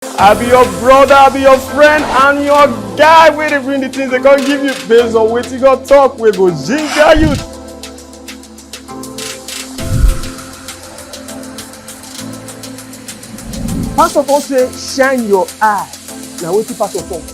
I be your brother, I be your friend, and your guy wey dey bring the things they can't give you based on what you got talk We go ginger you. Pastor Paul say shine your eye. Now what you pastor talk?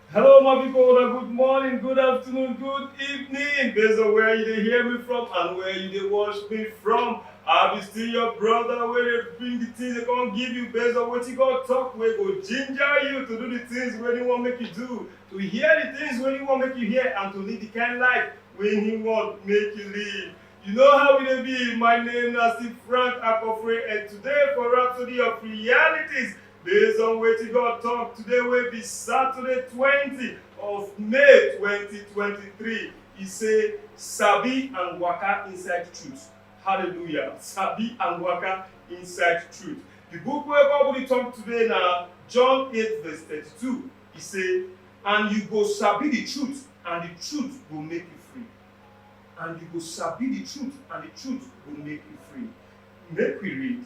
Hello my people, una good morning, good afternoon, good evening based on where you dey hear me from and where you dey watch me from. I be still your brother wey dey bring the things dey come give you based on wetin God talk wey go ginger you to do the things wey he wan make you do, to hear the things wey he wan make you hear and to live the kind life wey he want make you live. You know how we dey be, my name na still Frank Akofre and today for Rhapsody of Realities Based on wetin God talk today wey be Saturday 20 of May 2023, e say sabi and waka inside truth. Hallelujah. Sabi and waka inside truth. The book wey God dey talk today na John 8 verse 32. E say, and you go sabi the truth and the truth go make you free. And you go sabi the truth and the truth go make you free. Make we read.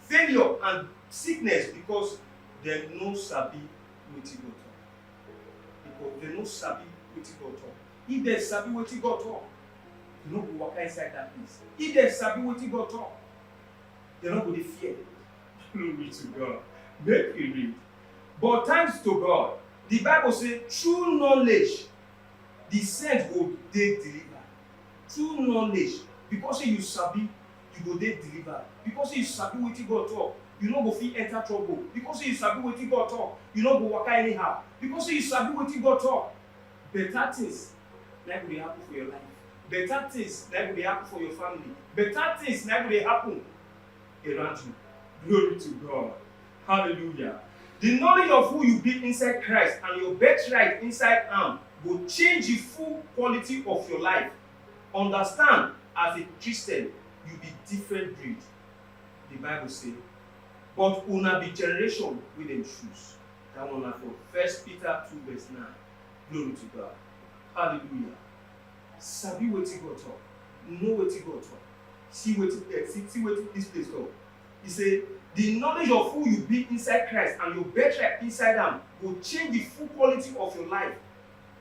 failure and sickness because dem no sabi wetin God talk. Because dem no sabi wetin God talk. If dem sabi wetin God talk, dem no go waka inside that place. If dem sabi wetin God talk, dem no go dey fear. Glory to God. Make we read. But thanks to God, the Bible say true knowledge, the saint go dey delivered. True knowledge, because say you sabi You go dey delivered because sey you sabi wetin God talk, you no go fit enter trouble because sey you sabi wetin God talk, you no go waka anyhow because sey you sabi wetin God talk. Better things na im go dey happen for your life, better things na im go dey happen for your family, better things na im go dey happen around you. Glory to God. Hallelujah. The knowledge of who you be inside Christ and your birthright inside am go change the full quality of your life. Understand as a Christian you be different breed, the bible say but una be generation wey dem choose that one na for first Peter two verse nine glory to God hallelujah sabi wetin God talk know wetin God talk see wetin eh, see, see wetin this place talk he say the knowledge of who you be inside Christ and your birthright inside am go change the full quality of your life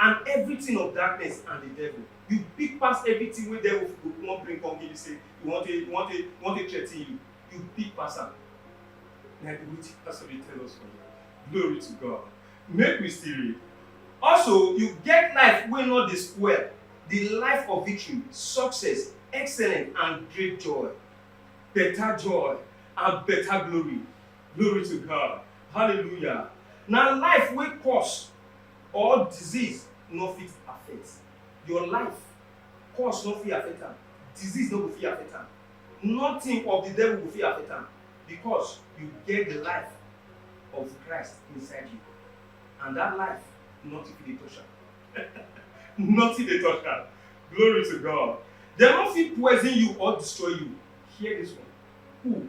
and evritin of darkness and di devil. Yu big pass evritin wey devil go wan bring kom give yu sey e wan take e wan take e wan take threaten yu. Yu big pass am. Na di wetin pastor dey tell us for here. Glory to God. Make we still read. Also, yu get life wey nor dey spoil, di life of victory, success, excellence and great joy. Beta joy and beta glory. Glory to God. Hallelujah. Na life wey kost. or disease no fit affect your life, curse no fit affect am, disease no go fit affect am, nothing of the devil go fit affect am because you get the life of Christ inside you and that life nothing fit dey touch am. nothing dey touch am. Glory to God. Dem no fit poison you or destroy you. Hear this one. Who?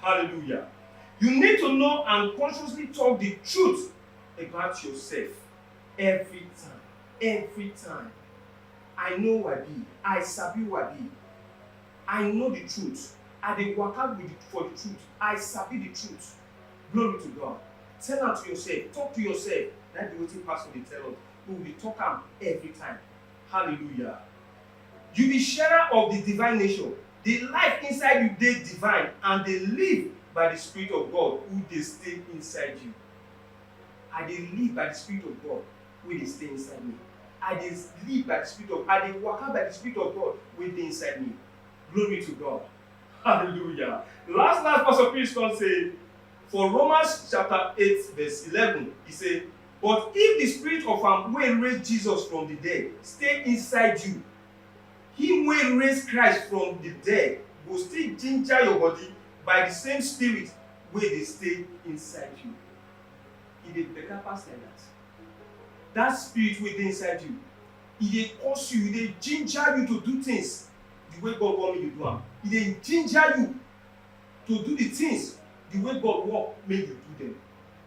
Hallelujah. You need to know and consciously talk the truth about yourself every time. Every time. I know who I be. I sabi who I be. I know the truth. I dey waka with the, for the truth. I sabi the truth. Glory to God. Tell am to yourself. Talk to yourself. Na be wetin pastor dey tell us. We will dey talk am every time. Hallelujah. Yu bi sharer of di divine nature, di life inside yu dey divine and dey live by di Spirit of God who dey stay inside yu. I dey live by di Spirit of God wey dey stay inside mi. I dey live by di Spirit of I dey waka by di Spirit of God wey dey inside mi. Glory to God! Hallelujah! Las-las, Pastor Chris kon sey for Romans chapter eight verse eleven, e sey. But if di Spirit of am wey raise Jesus from di dead stay inside you, him wey raise Christ from di dead go still ginger your body by di same Spirit wey dey stay inside you. E dey better pass like dat. Dat Spirit wey dey inside you, e dey cause you, e dey ginger you to do things di way God want make you do am. E dey ginger you to do di things di way God want make you do dem.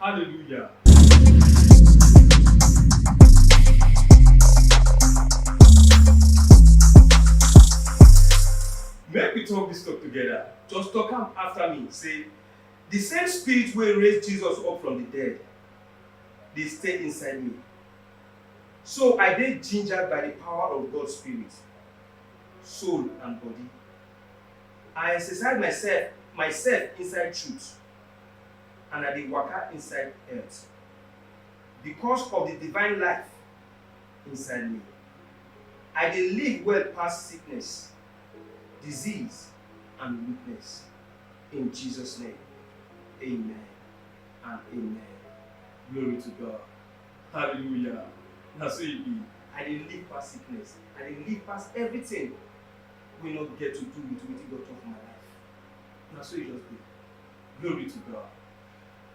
Hallelujah. Make we talk this talk together. Just talk am after me. Say, the same spirit wey raise Jesus up from the dead dey stay inside me. So I dey gingered by the power of God's spirit, soul and body. I exercise myself myself inside truth. and I dey waka inside earth because of the divine life inside me. I dey live well pass sickness, disease and weakness. In Jesus name, amen and amen. Glory to God. Hallelujah. Na so e be. I dey live past sickness. I dey live past everything wey no get to do with wetin God talk for my life. Na so e just be. Glory to God.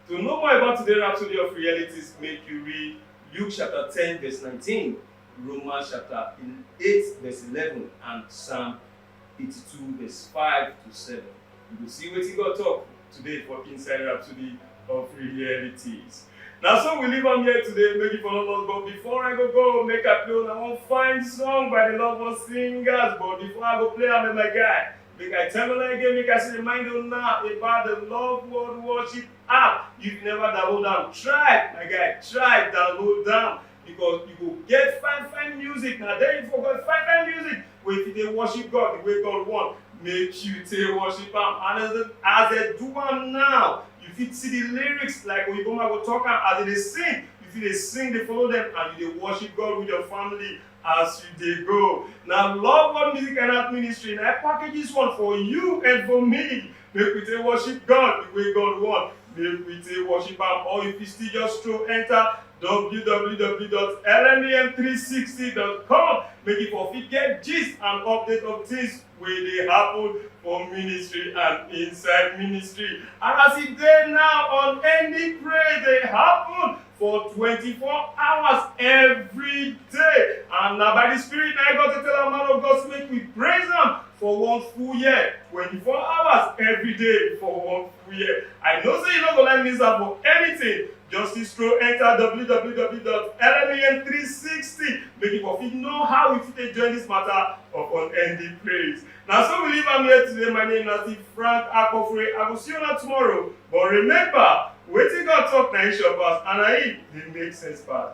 To know more about today's Rhapsody of Realities, make you read Luke chapter 10, verse 19, Romans chapter 8, verse 11, and Psalm 82, verse 5 to 7. You will see what he got talk today for Inside Rhapsody of Realities. Now, so we leave on here today, make it for all us. But before I go, go make a play, I want to find song by the lovers singers. But before I go play, I'm my guy. Make I tell una again, make I still remind una about the Love World Worship app. If you never download am, try, my guy, try download am because you go get fine fine music. Na there you for get fine fine music wey fit dey worship God the way God want. Make you take worship am and as dem as dem do am now, you fit see the lyrics like Oyinbo man go talk am as dem dey sing. You fit dey sing dey follow dem and you dey worship God with your family. As you dey go, na Love One Music and Art Ministry na package this one for you and for me. Make we take worship God the way God want. Make we take worship am or if you still just stroll enter www.lmem360.com make you for fit get gist and update of things wey dey happen for ministry and inside ministry and as e dey now unending praise dey happen for 24 hours every day and na by the spirit na God dey tell am man of God make we praise am for one full year 24 hours every day for one full year I know say you no go like miss am for anything Just still scroll enter www.lmen360 make you for fit know how we fit take join this matter upon ending praise. Na so we leave am here today. My name na Steve Frank Akofre. I go see you na tomorrow. But remember, wetin God talk na him sure pass and na him dey make sense pass.